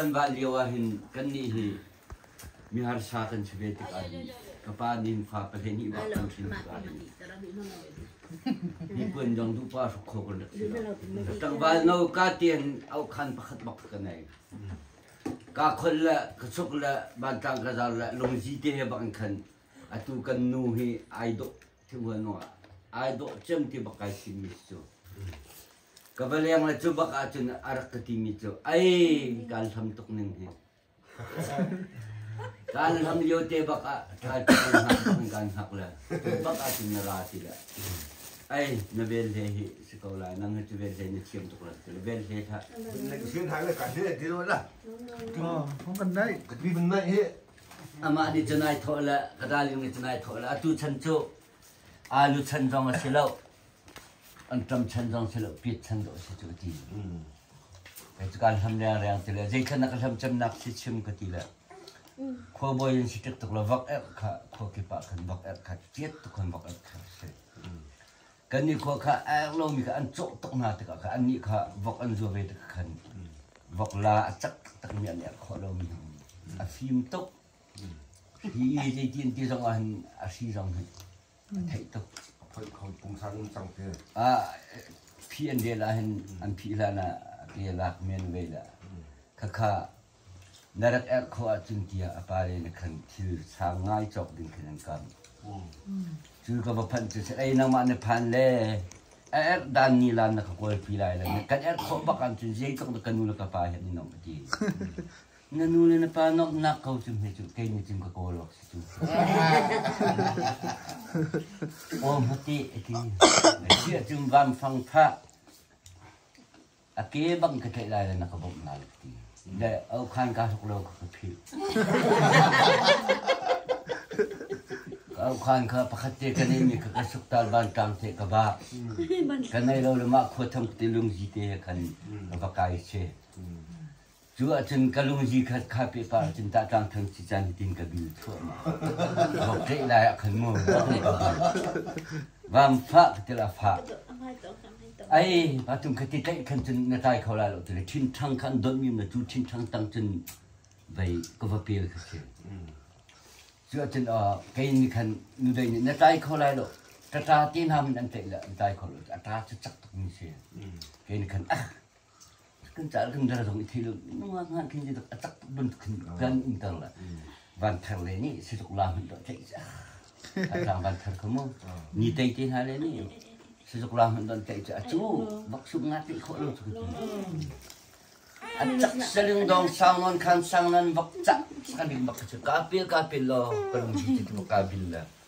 Kan va lio ah hin kannih hi miharsa kan si ve tik ah hin ka pa nin fa pahnih nih wa kan thin tik ah hin mipuan dong tu pa hruk kho kan rak si lo tangval no ka tian au khan pakhat bak ka nei ka khol le ka chuk le bantang ka zar le lungzi te he bak in khan atu kan nu hi ai dawh ti hua naw ai dawh cem ti bak kai si mi cu ka va leng le cu bak ah cun a rak ka ti mi cu ai kan hlam tuk ning hi kan hlam lio te bak ah tha cu kan kan hak le tu bak ah cun na ra ti le ai na vel he hi si ko la nang tu vel he na chiam tuk la ti le vel he tha Nek sin hai le ka hi ti lo la. Không cần đấy. Cái mình này hi Amah nih cun ai thawh le ka darling nih cun ai thawh le atu chan cu alu chan zong a si lo an ṭam chan zong si lo piet chan dawh a si cu a ti. Kei cu kaan hlam riangriang ti le zei can a ka hlam cemnak si chim ka ti le khuabawi an si ṭik tuk le vak erh kha khua kip ah khan vak erh kha ṭiat tuk khan vak erh kha a si. Kannih khua kha a eng lomi kha an cawh tuk hna tikah khan annih kha vok an zuar ve tikah khan vok la a cak taktakmi an er khawh lomi a fim tuk. Hi zeitin ti zong ah hin a hri zong hi a theih tuk. A phoih kho pungsan cang te. Ah phi an rel ah hin an phih hlan ah ke lak men ve le khakha Na rak erh khawh ahcun tiah a pale na khan thil sang ngai cawk ding khin an kam. Cu ka va phanh cu si, ei nangmah na phan le a erh dan ni lan na ka kawlpi lai lo. Na kan erh khawh bak ahcun zeitluk na ka nu le ka pa he nan ong a ti. Na nu le na pa nomhnak ko cu hme cu kei nih cun ka kawl awk si cu. Aw hmati a ti. Na ti ahcun vanfang phah. a ke bang ka tlaih lai le na ka bawmh lai ka ti. Le okhan kaa hluk lo ka ka philh. ka okhan kha pakhat te ka neimi ka ka suk tal ban tlang te ka ba. Ka nei lo le mah khua tham te lungzi te kan ka va kai se. Cu ahcun ka lungzi khat kha pehpar ahcun Tahtlang Thang Cica nitin ka bil thluahmah. Vok ṭeih lai ah khan mu, vok nih ka bil. Vam fah ka til a fah. Ai, patung khati tlaih khan cun na tlai kho lai lo tile thinṭhang khan donhmi na tu thinṭhang tang cun vei ka va pel ka si. Cu ahcun kei nih khan nudei nih na tlai kho lai lo ṭaṭa ti hna min an tlaih le an tlai kho lo a ṭa cu cak tuk mi si. Kei nih khan ah kan cal kan dar zong i thei lo nungak ngan khin tituk a tak bantuk khin kan in tang la van thar le nih si tuk la hun do tlaih ja a tang van thar ko mu ni tei te hna le nih si tuk la hun don tlaih ja a cu bak sum nga tei kho lo cu a cak saling dong sang non khan sang nan bak cak sakan dik bak cu ka pil ka pil lo ka lung ti tu ka bil la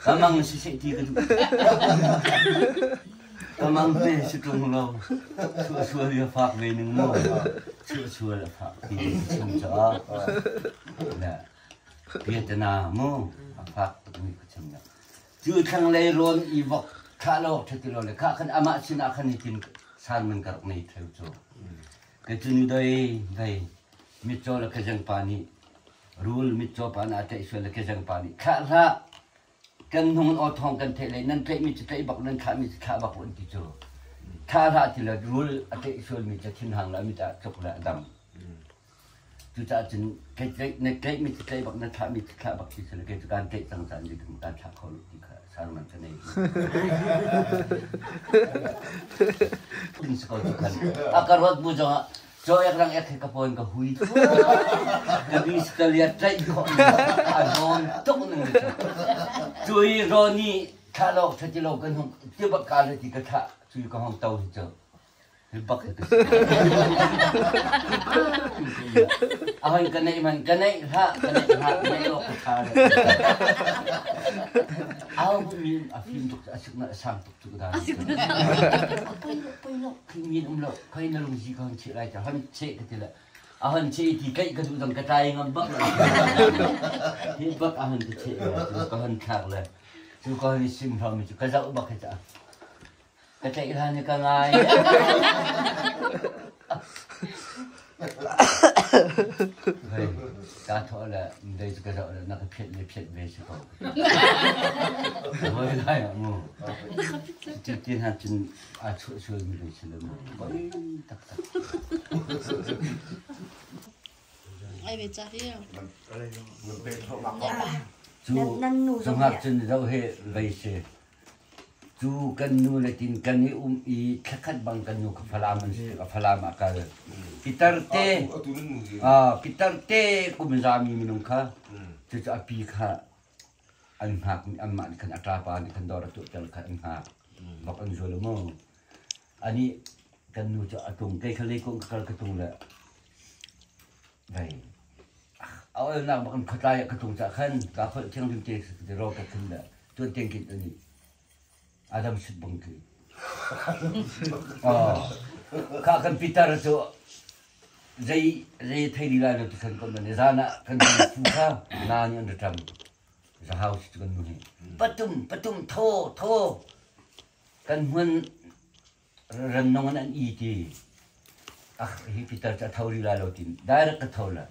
Kamang si si ti kan Kamang te si tung lo sua sua dia fak ve ning mu sua sua la fak ti chung cha na Vietnam mu fak tuk mi ka chung na chu thang lei ron i vok kha lo thati lo le kha kan ama sina khan itin san man kark nei theu chu ke chunu dai dai mitcho la ka jang pa ni rul mitcaw pa nih a tlaih sual le kezeng pa nih thlah hlah kan hnung in aw thawng kan theih lei nan tlaihmi cu tlaih bak nan thlahmi cu thlah bak an ti cu thlah hlah ti lo rul a tlaih sualmi cu thinhang lo mi caah tluk le a dam cucaah cun na tlaihmi cu tlaih bak na thlahmi cu thlah bak ti si lo kei cu kaan tlaih cang caan dikam kaan thlah kho lo ti kha sarman ka nei din si ko ti kan a ka ruat bu zongah Caw ek rang ek khi ka pawn ka hui fu. Na bis ka liat tlaih khawh mi a rawn tuk ning le cu i Ronnie thlah lo tha ti lo ka hnung ti bak ka le ti ka thlah cu ka hong to hi cu hi bak hi ka si a hon ka neih man ka neih hla ka neih hla ka neih lo ka tha le a hong min a film tuk a sik na a sang tuk Kingin um lo, kai na lungsi ka han cheh lai ta, han cheh ka tila. A han cheh ti kai ka tu dang ka tai ngam bak la. Hi bak a han ta cheh lai, tu ka han thak la. Tu ka han sim hram mi chu, ka zau bak ka ta. Ka tlaih hlan ka ngai. ka thawh le mdei cu ka zoh le na ka phiat le phiat ve si ko voi lai mu ti ti hna cun a chuh sual mi ve si le mu voi tak tak ai ve cha hi cu zungak cun zo he vei se Cu kan nu le tin kan i um i thlakhat bang kan nu kha Falam an si tikah Falam ah kal. Pitar te ah pitar te kum zami minung kha cucu a pi kha an hngak anmah nih khan a ṭapa nih khan dawr a tuahter kha an hngak bak an zul maw ani kan nu cu a tung kei kha leikuang ka kal ka tung le A olnak bak in khuatlai ah ka tung cah khan ka kholh thiang dim te te ro ka khun da tuan tiang kin ani adam sut bang ki ka kan pitar chu zai zai thai di lai lo tu khan kon mane zana kan fu kha na ni an ram za house tu kan nu ni patum patum tho tho kan mun rannung in an i ti hi pitar cu a tho rih lai lo tin direct ka tho la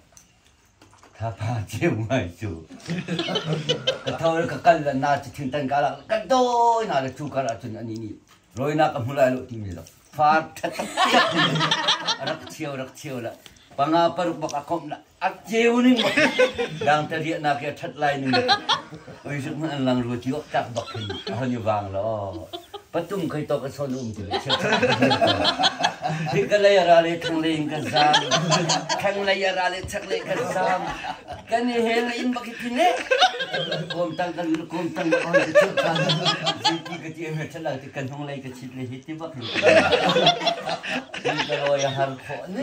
thapa ceu ngai cu ka tho la ka kal la na cu thin tan ka la ka dawi na la cu kar ah cun ani ni roina ka hmu lai lo ti mi la far that rak thiêu rak thiêu la panga paruk bak a kom la A ceu ning dang te riahnak hi a ṭhat lai ning. Oi zuk hmanh an lang rua ti awk tak bak khin a hon i vang lo. Patung khoi tawk a sawn um ti chiap Hi ka lei a ra le thang lei in ka zam. Thang lei a ra le chak le ka zam. Kan i hel in bak hi ne. Kom tang kan kom tang ka hon ti chuak ka. Ziti ka ti hme thala ti kan hong lei ka chit le hi ti bak hin. Hi ka loi a har khawh ne.